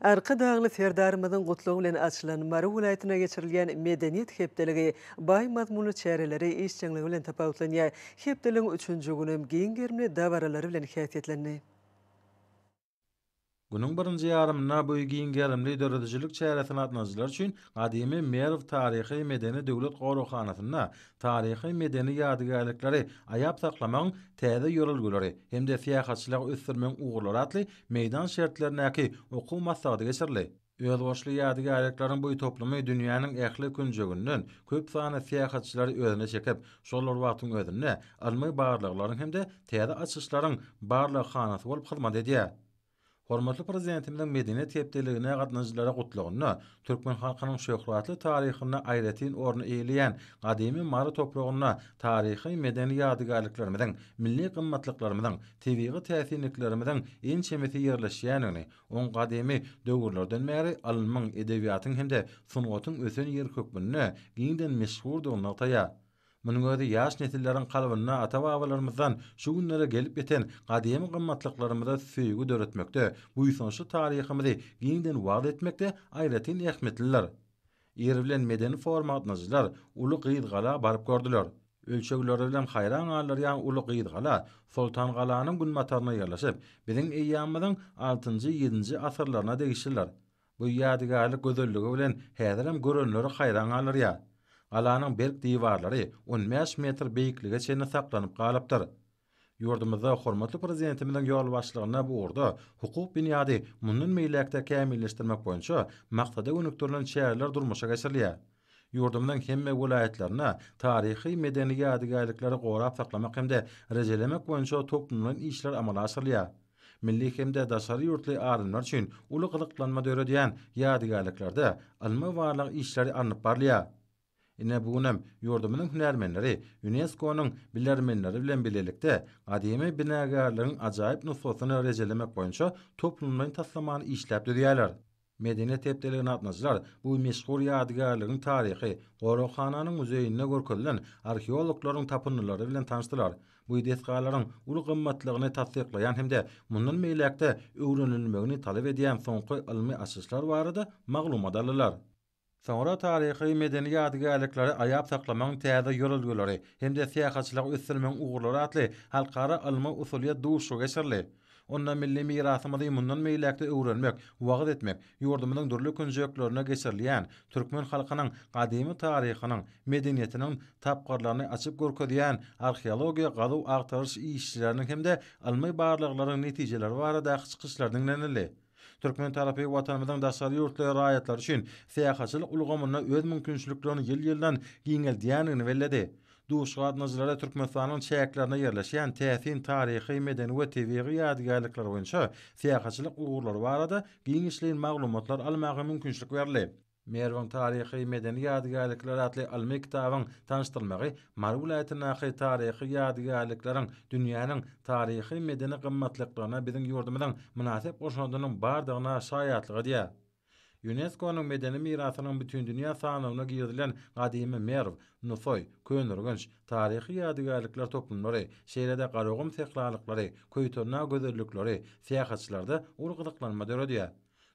Arkadagly Serdarymyzyň gutlagy bilen açylan Mary welaýatynda geçirilýän Medeniýet hepdeligi baý mazmunly çäreleri işjeňligi bilen tapawutlanýar. Hepdeligiň üçünji güni hem giň gerimli dabaralary bilen häsiýetlendi. Günüň birinji ýarymynda bu giň gerimli döredijilik çäresine gatnadyjylar üçin gadymy Merw taryhy-medeni döwlet goraghanasynda taryhy-medeni ýadygärlikleri aýap saklamagyň täze ýörelgeleri hem-de syýahatçylygy ösdürmegiň ugurlary atly meýdan şertlerindäki okuw maslahaty geçirildi. Özboluşly ýadygärlikleriň bu toplumy dünýäniň ähli künjeginden köp sanly syýahatçylary özüne çekip, şol bir wagtyň özünde ylmy barlaglaryň hem-de täze açyşlaryň barlaghanasy bolup hyzmat edýär. Hormatly Prezidentimiziň Medeniýet hepdeligine gatnaşyjylara Gutlagynda türkmen halkynyň şöhratly taryhynda aýratyn orny eýeleýän gadymy Mary topragynda taryhy-medeni ýadygärliklerimiziň, milli gymmatlyklarymyzyň, tebigy täsinliklerimiziň ençemesi ýerleşýändigini, oň gadymy döwürlerden bäri ylmyň, edebiýatyň hem-de sungatyň ösen ýeri hökmünde giňden meşhurdygyny nygtaýar. Munuň özi ýaş nesilleriň kalbynda ata-babalarymyzdan şu günlere gelip ýeten gadymy gymmatlyklarymyza söýgi döretmekde, buýsançly taryhymyzy giňden wagyz etmekde aýratyn ähmiýetlidir. Ir bilen medeni forum gatnaşyjylar Uly Gyzgala baryp gördüler. Ölçegleri bilen haýran galdyrýan Uly Gyzgala Soltangalanyň günbatarynda ýerleşip, biziň eýýamymyzyň altynjy-ýedinji asyrlaryna degişlidir. Bu ýadygärlik gözelligi bilen häzirem görenleri haýran galdyrýar. Galanyň berk diwarlary on bäş metr beýiklige çenli saklanyp galypdyr. Ýurdumyzda hormatly Prezidentimiziň ýolbaşçylygynda bu ugurda hukuk binýady mundan beýläk-de kämilleşdirmek boýunça maksada gönükdirilen çäreler durmuşa geçirilýär. Ýurdumyzyň hemme welaýatlarynda taryhy-medeni ýadygärlikleri gorap saklamak hem-de rejelemek boýunça toplumlaýyn işler amala aşyrylýar. Milli hem-de daşary ýurtly alymlar üçin uly gyzyklanma döredýän ýadygärliklerde ylmy-barlag işleri alnyp barylýar. Ine, bu günem ýurdumyzyň hünärmenleri Ýunesko-nyň bilermenleri bilen bilelikde gadymy binagärligiň ajaýyp nusgasyny rejelemek boýunça toplumlaýyn taslamany işläp düzýärler. Medeniýet hepdeligine gatnaşyjylar bu meşhur ýadygärligiň taryhy, goraghananyň muzeýinde görkezilen arheologlaryň tapyndylary bilen tanyşdylar. Bu desgalaryň uly gymmatlygyny tassyklaýan hem-de mundan beýläk-de öwrenilmegini talap edýän soňky ylmy açyşlar barada maglumat aldylar. Soňra taryhy-medeni ýadygärlikleri aýap saklamagyň täze ýörelgeleri hem-de syýahatçylygy ösdürmegiň ugurlary atly halkara ylmy-usulyýet duşuşygy geçirildi. Onda milli mirasymyzy mundan beýläk-de öwrenmek, wagyz etmek, ýurdumyzyň dürli künjeklerinde geçirilýän, türkmen halkynyň gadymy taryhynyň, medeniýetiniň tapgyrlaryny açyp görkezýän arheologiýa-gazuw-agtaryş işleriniň hem-de ylmy barlaglaryň netijeleri baradaky çykyşlar diňlenildi. Türkmen tarapy Watanymyzyň daşary ýurtly raýatlary üçin syýahatçylyk ulgamynda öz mümkinçiliklerini ýyl-ýyldan giňeldýändigini belledi. Duş gatnaýjylara Türkmenistanyň çäklerinde ýerleşýän täsin taryhy, medeni we tebigy ýadygärlikler boýunça syýahatçylyk ugurlary barada giňişleýin maglumatlar almaga mümkinçilik berildi. Merwiň taryhy-medeni ýadygärlikleri atly ylmy kitabyň tanyşdyrylmagy Mary welaýatyndaky taryhy ýadygärlikleriň dünýäniň taryhy-medeni gymmatlyklaryna biziň ýurdumyzyň mynasyp goşandynyň bardygyna şaýatlyk edýär. Ýunesko-nyň medeni mirasynyň bütindünýä sanawyna girizilen gadymy Merw, Nusaý, Köneürgenç, taryhy ýadygärlikler toplumlary, şeýle-de Garagum sähralyklary, Köýtendag gözellikleri syýahatçylarda uly gyzyklanma döredýär.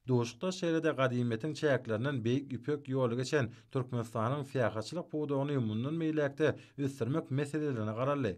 Duşuşykda şeýle-de gadymyýetiň çäklerinden Beýik Ýüpek ýoly geçen Türkmenistanyň syýahatçylyk pudagyny mundan beýläk-de ösdürmek meselelerine garaldy.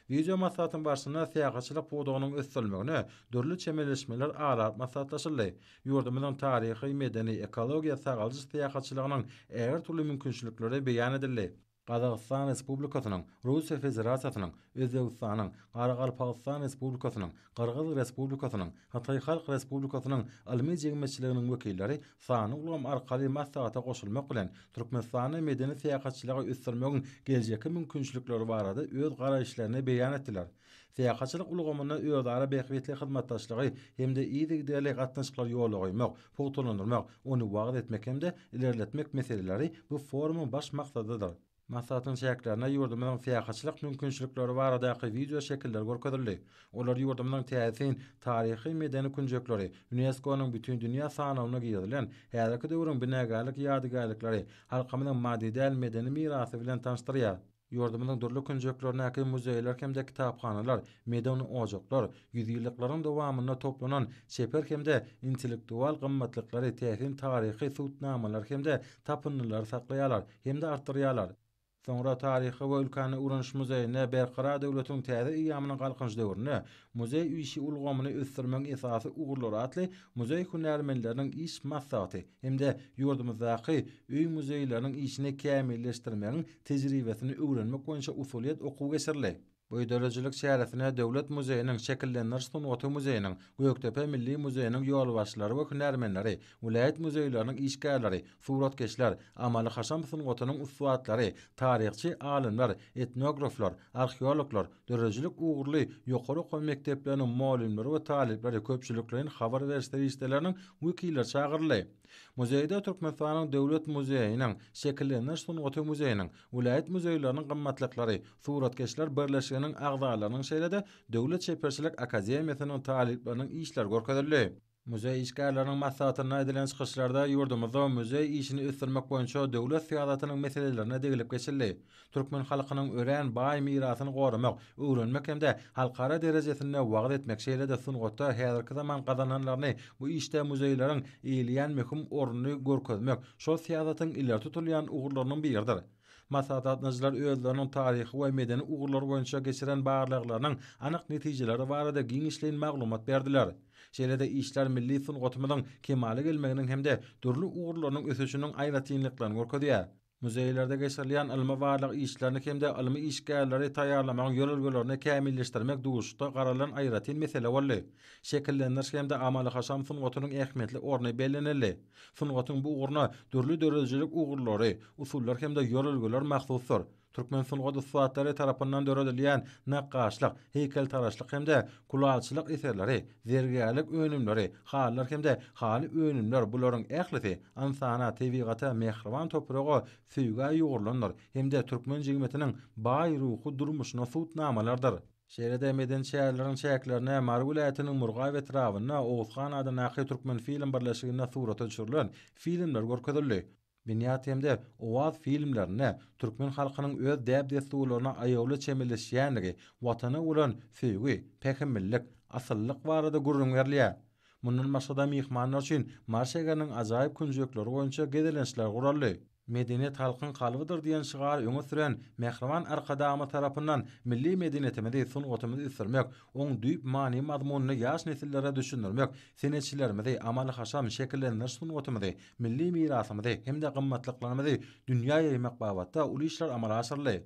Wideomaslahatyň barşynda syýahatçylyk pudagynyň ösdürilmegine dürli çemeleşmeler alap maslahatlaşyldy, ýurdumyzyň taryhy, medeni, ekologiýa, sagaldyş syýahatçylygynyň ägirt uly mümkinçilikleri beýan edildi. Gazagystan Respublikasynyň, Russiýa Federasiýasynyň, Özbegistanyň, Garagalpagystan Respublikasynyň, Gyrgyz Respublikasynyň, Hytaý Halk Respublikasynyň ylmy jemgyýetçiliginiň wekilleri sanly ulgam arkaly maslahata goşulmak bilen, Türkmenistanda medeni-syýahatçylygy ösdürmegiň geljekki mümkinçilikleri barada öz garaýyşlaryny beýan etdiler. Syýahatçylyk ulgamynda özara bähbitli hyzmatdaşlygy hem-de yzygiderli gatnaşyklary ýola goýmak, pugtalandyrmak, ony wagyz etmek hem-de ilerletmek meseleleri bu forumyň baş maksadydyr. Maslahatyň çäklerinde ýurdumyzyň syýahatçylyk mümkinçilikleri baradaky wideo şekiller görkezildi. Olar ýurdumyzyň täsin taryhy-medeni künjekleri, UNESCO-nyň Bütindünýä sanawyna girizilen häzirki döwrüň binagärlik ýadygärlikleri, halkymyzyň maddy däl medeni mirasy bilen tanyşdyrýar. Ýurdumyzyň dürli künjeklerindäki muzeýler hem-de kitaphanalar, medeni ojaklar, ýüzýyllyklaryň dowamynda toplanan çeper hem-de intellektual gymmatlyklary, täsin taryhy subutnamalary hem-de tapyndylary saklaýarlar hem-de artdyrýarlar. Soňra Taryhy we ülkäni öwreniş muzeýinde Berkarar döwletiň täze eýýamynyň Galkynyş döwründe Muzeý işi ulgamyny ösdürmegiň esasy ugurlary atly muzeý hünärmenleriniň iş maslahaty hem-de ýurdumyzdaky öý-muzeýleriniň işini kämilleşdirmegiň tejribesini öwrenmek boýunça usulyýet okuwy geçirildi. Bu döredijilik çäresine Döwlet muzeýiniň Şekillendiriş sungaty muzeýiniň, Gökdepe milli muzeýiniň ýolbaşçylary we hünärmenleri, welaýat muzeýleriniň işgärleri, suratkeşler, amaly-haşam sungatynyň ussatlary, taryhçy alymlar, etnograflar, arheologlar, döredijilik ugurly ýokary okuw mekdepleriniň mugallymlary we talyplary, köpçülikleýin habar beriş serişdeleriniň wekilleri çagyryldy. Muzeýde Türkmenistanyň Döwlet muzeýiniň, Şekillendiriş sungaty muzeýiniň, welaýat muzeýleriniň gymmatlyklary, Suratkeşler birleşiginiň agzalarynyň şeýle-de Döwlet çeperçilik akademiýasynyň talyplarynyň işleri görkezildi. Muzeý işgärleriniň maslahatynda edilen çykyşlarda ýurdumyzda muzeý işini ösdürmek boýunça döwlet syýasatynyň meselelerine degilip geçildi. Türkmen halkynyň örän baý mirasyny goramak, öwrenmek hem-de halkara derejesinde wagyz etmek, şeýle-de sungatda häzirki zaman gazananlaryny bu işde muzeýleriň eýeleýän möhüm ornuny görkezmek şol syýasatyň ileri tutulýan ugurlarynyň biridir. Maslahatlatnyjylar özleriniň taryhy we medeni ugurlar boýunça geçiren barlaglarynyň anyk netijeleri barada giňişleýin maglumat berdiler. Şeýle-de işler milli sungatymyzyň kemala gelmeginiň hem-de dürli ugurlarynyň ösüşiniň aýratynlyklaryny görkezýär. Muzeýlerde geçirilýän ylmy-barlag işlerini hem-de ylmy işgärleri taýýarlamagyň ýörelgelerini kämilleşdirmek duşuşda garalan aýratyn mesele boldy. Şekillendiriş hem-de amaly-haşam sungatynyň ähmiýetli orny bellenildi. Sungatyň bu ugruna dürli döredijilik ugurlary, usullar hem-de ýörelgeler mahsusdyr. Türkmen sungat ussatlary tarapyndan döredilýän nakgaşlyk, heýkeltaraşlyk hem-de kulaçylyk eserleri, zergärlik önümleri, halylar hem-de haly önümler bularyň ählisi ynsana, tebigata, mähriban topraga söýgä ýugrulandyr hem-de türkmen jigmetiniň baý ruhy durmuşyna subutnamalardyr. Şeýle-de medeni çäreleriň çäklerine Mary welaýatynyň Murgaýew etrabynda Oguz han adyndaky Türkmenfilm birleşiginde surata düşürilen filmler görkezildi. Binýat hem-de Owaz filmlerinde türkmen halkynyň öz däp-dessurlaryna aýawly çemeleşýändigi, Watana bolan söýgi, pähimlilik, asyllyk barada gürrüň berilýär. Mundan başga-da myhmanlar üçin Mary şäheriniň ajaýyp künjekleri boýunça gezelençler guraldy. Medeniýet halkyň kalbydyr diýen şygary öňe süren mähriban Arkadagymyz tarapyndan milli medeniýetimizi, sungatymyzy ösdürmek, oň düýp many-mazmunyny ýaş nesillere düşündirmek, senetçilerimizi, amaly-haşam şekillendiriş sungatymyzy, milli mirasymyzy hem-de gymmatlyklarymyzy dünýä ýaýmak babatda uly işler amala aşyryldy.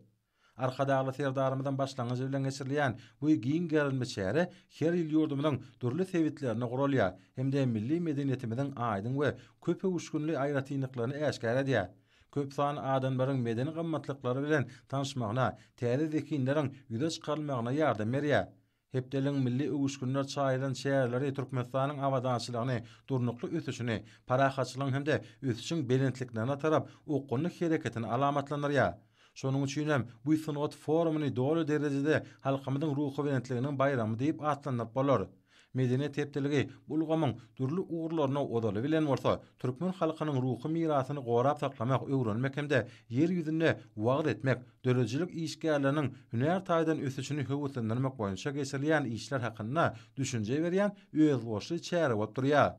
Arkadagly Serdarymyzyň başlangyjy bilen geçirilýän bu giň gerimli çäre her ýyl ýurdumyzyň dürli sebitlerinde guralýar hem-de milli medeniýetimiziň aýdyň we köpöwüşginli aýratynlyklaryny äşgär edýär. Köp sanly adamlaryň medeni gymmatlyklary bilen tanyşmagyna, täze zehinleriň ýüze çykarylmagyna ýardam berýär. Hepdeligiň milli öwüşginler çaýylan şäherleri Türkmenistanyň abadançylygyny, durnukly ösüşini, parahatçylygyň hem-de ösüşiň belentliklerine tarap okgunly hereketini alamatlandyrýar. Şonuň üçin hem bu sungat forumyny doly derejede halkymyzyň ruhubelentliginiň baýramy diýip atlandyryp bolar. Medeniýet hepdeligi bu ulgamyň dürli ugurlaryna ozaly bilen bolsa, türkmen halkynyň ruhy mirasyny gorap saklamak, öwrenmek hem-de Ýer ýüzünde wagyz etmek, döredijilik işgärleriniň hünär taýdan ösüşini höweslendirmek boýunça geçirilýän işler hakynda düşünje berýän özboluşly çäre bolup durýar.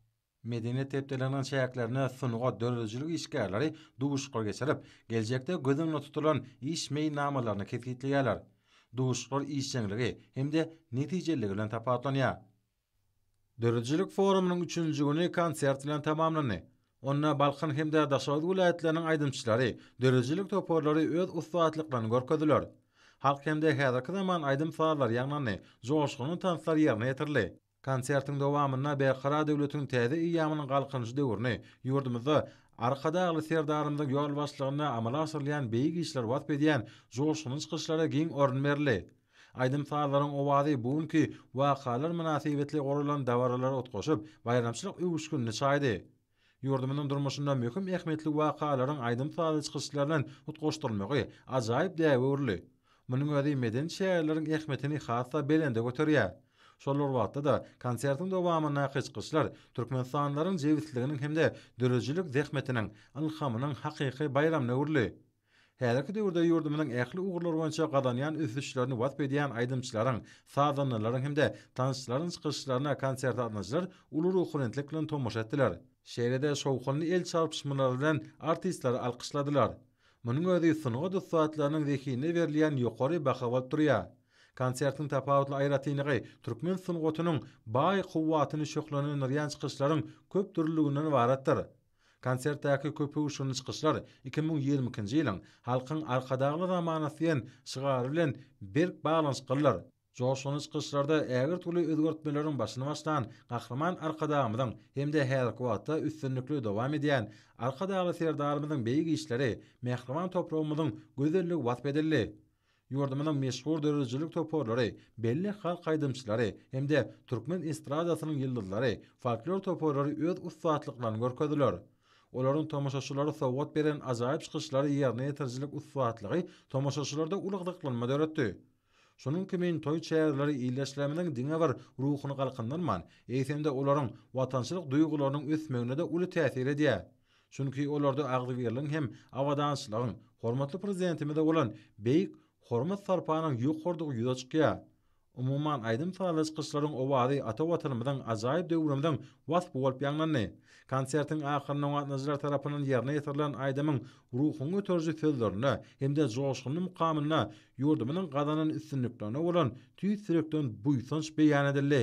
Medeniýet hepdeliginiň çäklerinde sungat, döredijilik işgärleri duşuşyklar geçirip, geljekde göz öňünde tutulan iş meýilnamalaryny kesgitleýärler. Duşuşyklar işjeňligi hem-de netijeliligi bilen tapawutlanýar. Döredijilik forumynyň üçünji güni konsert bilen tamamlandy. Onda Balkan hem-de Daşoguz welaýatlarynyň aýdymçylary, döredijilik toparlary öz ussatlyklaryny görkezdiler. Halk hem-de häzirki zaman aýdym-sazlary ýaňlandy, joşgunly tanslar ýerine ýetirildi. Konsertiň dowamynda Berkarar döwletiň täze eýýamynyň Galkynyşy döwrüni, ýurdumyzda Arkadagly Serdarymyzyň ýolbaşçylygynda amala aşyrylýan beýik işleri wasp edýän joşgunly çykyşlara giň orun berildi. Aýdym-sazlaryň owazy bu günki wakalar mynasybetli guralan dabaralara utgaşyp, baýramçylyk öwüşginini çaýdy. Ýurdumyzyň durmuşynda möhüm ähmiýetli wakalaryň aýdym-sazly çykyşlar bilen utgaşdyrylmagy ajaýyp däbe öwrüldi. Munuň özi medeni çäreleriň ähmiýetini has-da belende göterýär. Şol bir wagtda-da, konsertiň dowamyndaky çykyşlar türkmenistanlylaryň jebisliginiň hem-de döredijilik zähmetiniň, ylhamynyň hakyky baýramyna öwrüldi. Häzirki döwürde ýurdumyzyň ähli ugurlar boýunça gazanýan ösüşlerini wasp edýän aýdymçylaryň, sazandalaryň hem-de tansçylaryň çykyşlaryna konsertalyjylar uly ruhubelentlik bilen tomaşa etdiler. Şeýle-de şowhunly el çarpyşmalary bilen artistleri alkyşladylar. Munuň özi sungat ussatlarynyň zehinine berilýän ýokary baha bolup durýar. Konsertiň tapawutly aýratynlygy türkmen sungatynyň baý kuwwatyny şöhlelendirýän çykyşlaryň köpdürlüliginden ybaratdyr. Konsertdäki köpöwüşginli çykyşlar iki müň ýigrimi ikinji ýylyň Halkyň Arkadagly zamanasy diýen şygary bilen berk baglanyşyklydyr. Joşgunly çykyşlarda ägirt uly özgertmeleriň başyny başlan Gahryman Arkadagymyzyň hem-de häzirki wagtda üstünlikli dowam edýän Arkadagly Serdarymyzyň beýik işleri, mähriban topragymyzyň gözelligi wasp edildi. Ýurdumyzyň meşhur döredijilik toparlary, belli halk aýdymçylary hem-de türkmen estradasynyň ýyldyzlary, folklor toparlary öz ussatlyklaryny görkezdiler. Olaryň tomaşaçylara sowgat beren ajaýyp çykyşlary ýerine ýetirijilik ussatlygy tomaşaçylarda uly gyzyklanma döretdi. Şunuň kimin toý çäreleri ildeşlerimiziň diňe bir ruhuny galkyndyrman, eýsem-de olaryň watançylyk duýgularynyň ösmegine-de uly täsir edýär. Çünki olarda agzybirligiň hem abadançylygyň, hormatly Prezidentimize bolan beýik hormat-sarpanyň ýokarydygy ýüze çykýar. Umuman, aýdym-sazly çykyşlaryň owazy ata Watanymyzyň ajaýyp döwrümiziň waspy bolup ýaňlandy. Konsertiň ahyrynda gatnaşyjylar tarapyndan ýerine ýetirilen aýdymyň ruhuňy göteriji sözlerine hem-de joşgunly mukamynda ýurdumyzyň gazanan üstünliklerine bolan tüýs ýürekden buýsanç beýan edildi.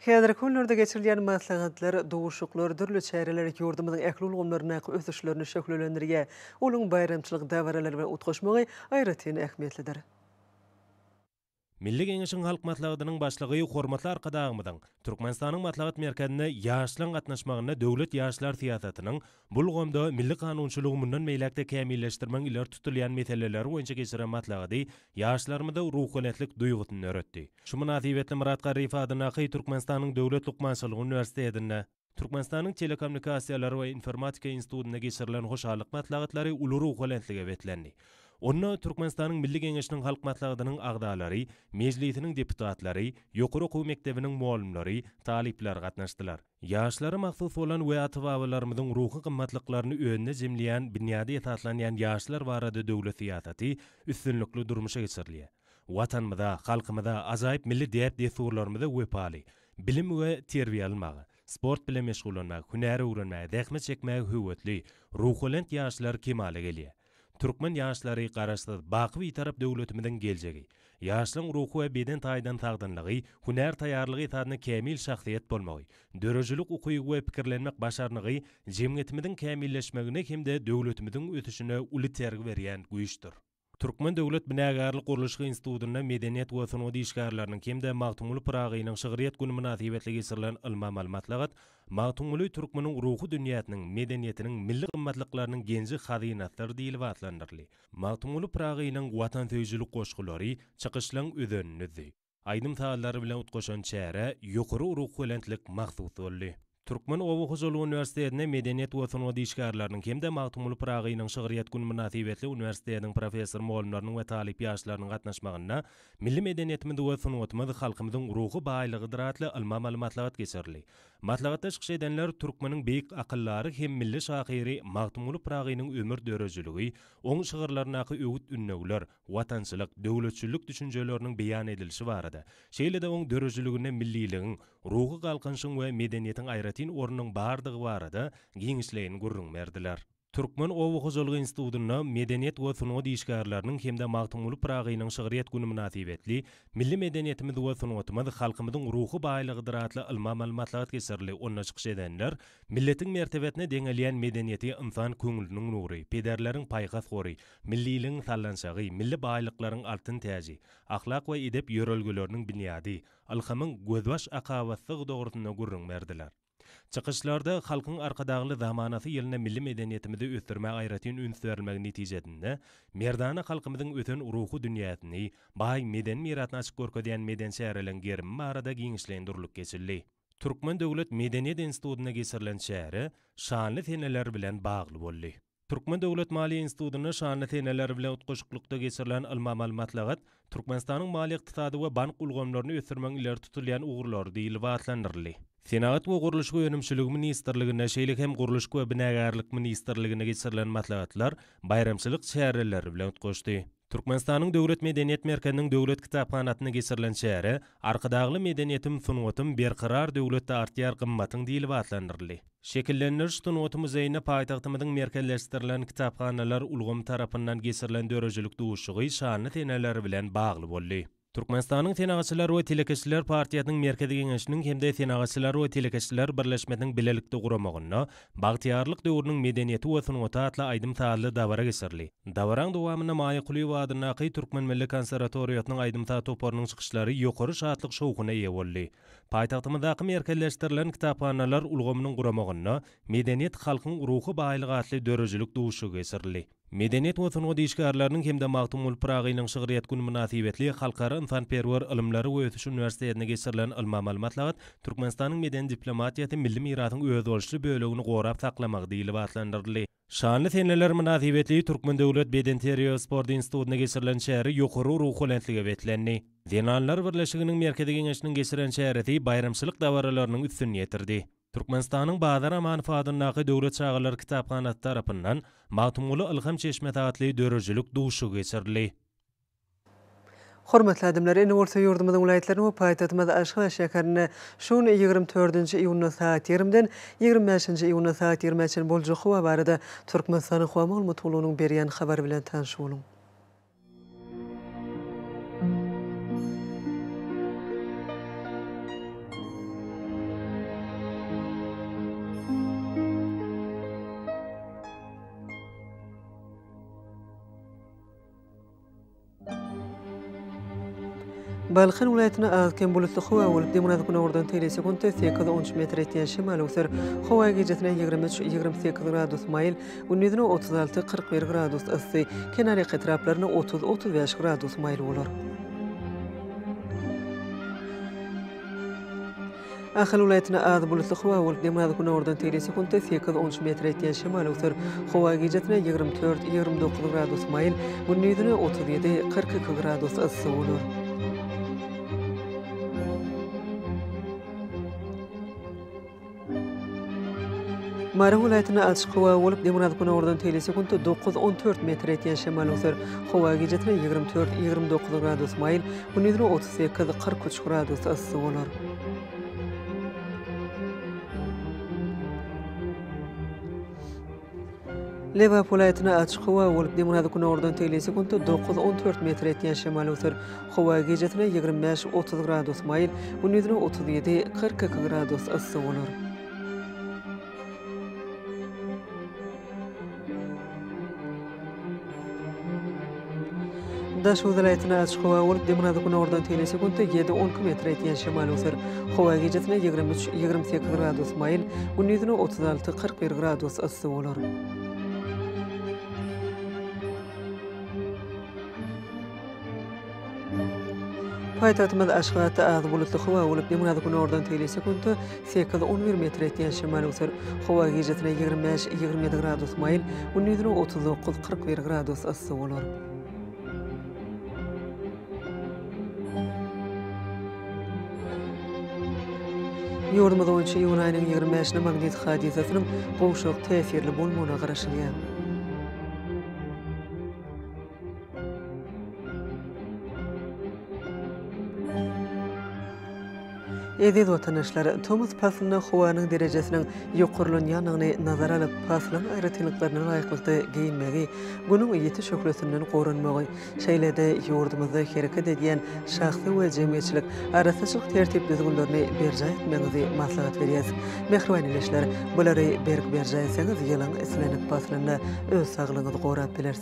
Häzirki günlerde geçirilýän maslahatlar, duşuşyklar, dürli çäreler ýurdumyzyň ähli ulgamlaryndaky ösüşlerini şöhlelendirýär. Olaryň baýramçylyk dabaralar bilen utgaşmagy aýratyn ähmiýetlidir. Milli Geňeşiň Halk Maslahatynyň Başlygy hormatly Arkadagymyzyň Türkmenistanyň Maslahat merkezine ýaşlaryň gatnaşmagynda döwlet ýaşlar syýasatynyň Bu ulgamda milli kanunçylygy mundan beýläk-de kämilleşdirmegiň ileri tutulýan meseleleri boýunça geçiren maslahady ýaşlarymyzda ruhubelentlik duýgusyny döretdi. Şu mynasybetli Myrat Garryýew adyndaky Türkmenistanyň Döwlet lukmançylyk uniwersitetinde, Türkmenistanyň Telekommunikasiýalar we informatika institutynda geçirilen hoşallyk maslahatlary uly ruhubelentlige beslendi. Onda Türkmenistanyň Milli Geňeşiniň Halk Maslahatynyň agzalary, Mejlisiniň deputatlary, ýokary okuw mekdebiniň mugallymlary, talyplar gatnaşdylar. Ýaşlara mahsus bolan we ata-babalarymyzyň ruhy gymmatlyklaryny özünde jemleýän binýady esaslanýan ýaşlar barada döwlet syýasaty üstünlikli durmuşa geçirilýär. Watanymyza, halkymyza, ajaýyp milli däp-dessurlarymyza wepaly, bilim we terbiýe almaga, sport bilen meşgullanmaga, hünär öwrenmäge, zähmet çekmäge höwesli, ruhubelent ýaşlar kemala gelýär. Türkmen ýaşlary Garaşsyz, baky Bitarap döwletimiziň geljegi. Ýaşlaryň ruhy we beden taýdan sagdynlygy, hünär taýýarlygy esasynda kämil şahsyýet bolmagy, döredijilik ukyby we pikirlenmek başarnygy jemgyýetimiziň kämilleşmegine hem-de döwletimiziň ösüşine uly itergi berýän güýçdür. Türkmen döwlet binagärlik-gurluşyk institutynda medeniýet we sungat işgärleriniň hem-de Magtymguly Pyragynyň şygryýet güni mynasybetli geçirilen ylmy-amaly maslahat Magtymguly türkmeniň ruhy dünýäsiniň, medeniýetiniň, milli gymmatlyklarynyň genji-hazynasydyr diýlip atlandyryldy. Magtymguly Pyragynyň watansöýüjilik goşgulary çykyşlaryň özenindedi. Aýdym-sazlar bilen utgaşan çärä ýokary ruhubelentlik mahsus boldy. Türkmen oba hojalygy uniwersitetinde medeniýet we sungat işgärleriniň hem-de Magtymguly Pyragynyň şygryýet güni mynasybetli uniwersitetiň professor-mugallymlarynyň we talyp ýaşlarynyň gatnaşmagynda Milli medeniýetimiz we sungatymyz halkymyzyň ruhy baýlygydyr atly ylmy-amaly maslahat geçirildi. Maslahatda çykyş edenler türkmeniň beýik akyldary hem milli şahyry Magtymguly Pyragynyň ömür dörejiligi, oň şygyrlaryndaky öwüt-ündewler, watançylyk, döwletçillik düşünjeleriniň beýan edilişi barada, şeýle-de oň dörejiliginde milliligiň, ruhy galkynyşyň we medeniýetiň aýratyn ornunyň bardygy barada giňişleýin gürrüň berdiler. Türkmen oba hojalygy institutynda Medeniýet we sungat işgärleriniň hem-de Magtymguly Pyragynyň şygryýet güni mynasybetli Milli medeniýetimiz we sungatymyz halkymyzyň ruhy baýlygydyr atly ylmy-amaly maslahat geçirildi, onda çykyş edenler Milletiň mertebesine deňelýän medeniýeti ynsan köňlüniň nury, pederleriň paýhas gory, milliligiň sallançagy, milli baýlyklaryň altyn täji, ahlak we edep ýörelgeleriniň binýady, ylhamyň gözbaş akabasydygy dogrusynda gürrüň berdiler. Çykyşlarda Halkyň Arkadagly zamanasy ýylynda milli medeniýetimizi ösdürmäge aýratyn üns berilmegi netijesinde, merdana halkymyzyň ösen ruhy dünýäsini, baý medeni mirasyny açyp görkezýän medeni çäreleriň gerimi barada giňişleýin durlup geçildi. Türkmen döwlet medeniýet institutynda geçirilen çäre şanly seneler bilen bagly boldy. Türkmen döwlet maliýe institutynda şanly seneler bilen utgaşyklykda geçirilen ylmy-amaly maslahat Türkmenistanyň maliýe-ykdysady we bank ulgamlaryny ösdürmegiň ileri tutulýan ugurlary diýlip atlandyryldy. Senagat we gurluşyk önümçiligi ministrliginde, şeýle hem Gurluşyk we binagärlik ministrliginde geçirilen maslahatlar baýramçylyk çäreleri bilen utgaşdy. Türkmenistanyň Döwlet medeniýet merkeziniň Döwlet kitaphanasynda geçirilen çäre Arkadagly medeniýetim, sungatym, berkarar döwletde artýar gymmatyň diýlip atlandyryldy. Şekillendiriş sungaty muzeýinde paýtagtymyzyň merkezleşdirilen kitaphanalar ulgamy tarapyndan geçirilen döredijilik duşuşygy şanly seneler bilen bagly boldy. Türkmenistanyň Senagatçylar we telekeçiler partiýasynyň Merkezi Geňeşiniň hem-de Senagatçylar we telekeçiler birleşmesiniň bilelikde guramagynda Bagtyýarlyk döwrüniň medeniýeti we sungaty atly aýdym-sazly dabara geçirildi. Dabaraň dowamynda Maýa Kulyýewa adyndaky Türkmen milli konserwatoriýasynyň aýdym-saz toparynyň çykyşlary ýokary şatlyk-şowhuna eýe boldy. Paýtagtymyzdaky Merkezleşdirilen kitaphanalar ulgamynyň guramagynda Medeniýet, halkyň ruhy baýlygy atly döredijilik duşuşygy geçirildi. Medeniýet we sungat işgärleriniň hem-de Magtymguly Pyragynyň şygryýet güni mynasybetli Halkara ynsanperwer ylymlary we ösüş uniwersitetinde geçirilen ylmy-amaly maslahat Türkmenistanyň medeni diplomatiýasy milli mirasyň özboluşly bölegini gorap saklamagy diýlip atlandyryldy. Şanly seneler mynasybetli Türkmen döwlet bedenterbiýe we sport institutynda geçirilen çäre ýokary ruhubelentlige beslendi. Zenanlar birleşiginiň Merkezi Geňeşiniň geçiren çäresi baýramçylyk dabaralarynyň üstüni ýetirdi. Türkmenistanyň Bazar Amanow adyndaky döwlet çagalar kitaphanasy tarapyndan Magtymguly ylham çeşmesi atly döredijilik duşuşygy geçirildi. Hormatly adamlar, indi bolsa ýurdumyzyň welaýatlaryny we paýtagtymyz Aşgabat şäherini şu gün ýigrimi dördünji iýunda sagat ýigrimiden ýigrimi bäşinji iýunda sagat ýigrimä çenli boljak howa barada Türkmenistanyň howa maglumat gullugynyň berýän habary bilen tanyş boluň. Balkan welaýatyna az-kem bulutly howa bolup, demirgazyk-gündogardan teýle sekuntda sekiz-on üç metr ýetýän şemal öwser. Howa gijesi-ne ýigrimi üç, ýigrimi sekiz gradus maýyl, Gündizine otuz alty, kyrk bir gradus yssy, kenarýaka etraplaryna otuz, otuz bäş gradus maýyl bolar. Ahal welaýatyna az bulutly howa bolup, nemaz günordan teýle sekuntda sekiz, on üç metre etýän şemal öwser. Howa gijesine ýigrimi dört, ýigrimi dokuz gradus maýyl, gündizine otuz ýedi, kyrk iki gradus yssy bolar. Mary welaýatynda açyk howa bolup, demirgazgünordan teýli sekuntda dokuz, on dört metr etýän şemal öser. Howa gijesi ýigrimi dört, ýigrimi dokuz gradus maýyl, gündizine otuz sekiz, kyrk üç gradus yssy bolar. Lebap welaýatynda açyk howa bolup, demirgazy-günordan tegli sekuntda dokuz, on dört metr etýän şemal öwser. Howa gijesine ýigrimi bäş, otuz gradus maýyl, gündizine otuz ýedi, kyrk iki gradus yssy bolar. Daş welaýatyna açyk howa bolup, dymyna-da günordan teýine sekuntda ýedi, on iki metre etýän şemal öser. Howa gijesine ýigrimi üç, ýigrimi sekiz gradus maýyl, gündizine otuz alty, kyrk bir gradus yssy bolar. Paýtagtymyz Aşgabatda az bulutly howa bolup, demirgazyk günordan tegelýän sekuntda sekiz, on bir metr etýän şemal öwser. Howa gijesine ýigrimi bäş, ýigrimi ýedi gradus maýyl, gündizine otuz dokuz, kyrk bir gradus yssy bolar. Ýurdumyz boýunça iýun aýynyň ýigrimi bäşine magnit hadysasynyň gowşak täsirli bolmagyna garaşylýar. Eziz watandaşlar, tomus paslynda howanyň derejesiniň ýokarlanýandygyny nazara alyp, paslyň aýratynlyklaryna laýyklykda geýinmegi, Günüň ýiti şöhlesinden goranmagy, şeýle-de ýurdumyzda hereket edýän şahsy we jemgyýetçilik arassaçylyk tertip-düzgünlerini berjaý etmegiňizi maslahat berýäris. Mähriban ildeşler, bulary berk berjaý etseňiz, ýylyň islendik paslynda öz saglygyňyzy gorap bilersiňiz.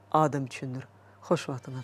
Adam üçindir. Hoş wagtyňyz.